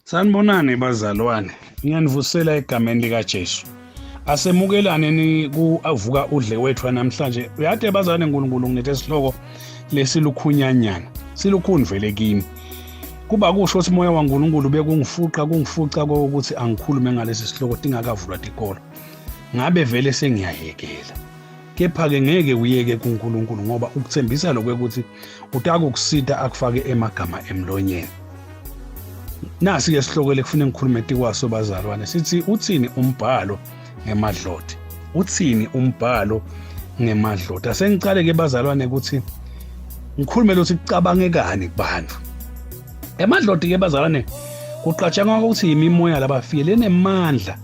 Sanibonani bazalwane, ngiyanivusela egameni likaJesu. Asemukelane ni kuvuka udle wethu namhlanje. Uyade bazalwane uNkulunkulu ngilethe isihloko lesilukhunyanyana. Silukhuni vele kimi. Kuba kusho ukuthi umoya waNkulunkulu bekungifuqa kungifuca kokuthi angikhulume ngalesi sihloko tingakavulwa tikolo. Ngabe vele sengiyayekela. kepha-ke ngeke uyeke kuNkulunkulu ngoba ukuthembisa lokho ukuthi utakukusita akufake emagama emlonyeni nasi-ke sihlokele kufuna ngikhulume tikwaso bazalwane sithi uthini umbhalo ngemadloti uthini umbhalo ngemadloti asengicale-ke bazalwane ukuthi ngikhulume lothi kucabangekani kubantu emadloti-ke bazalwane kuqatshangwa ukuthi yimimoya labafile lenemandla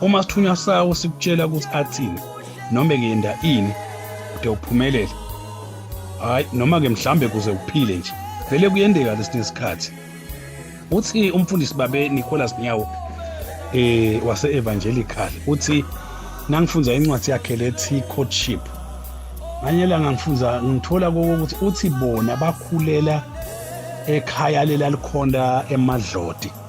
uma sithunywa sawo sikutshela ukuthi athini noma kuyenda ini ude uphumelele hayi noma ke mhlambe kuze uphile nje vele kuyendeka lesinye isikhathi uthi umfundisi babe Nicholas Nyawo eh wase evangelical uthi nangifunda incwadi yakhe lethi courtship nganye la ngangifunda ngithola ukuthi uthi bona bakhulela ekhaya lelalikhonda emadlodi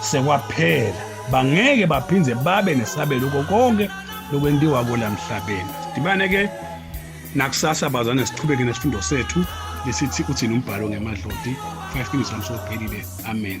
sekwaphela bangeke baphinde babe nesabelo konke lokwentiwa kola mhlabeni sidibane ke nakusasa bazane siqhubeke nesifundo sethu lesithi uthini umbhalo ngemadloti 5 minutes lamsophelile amen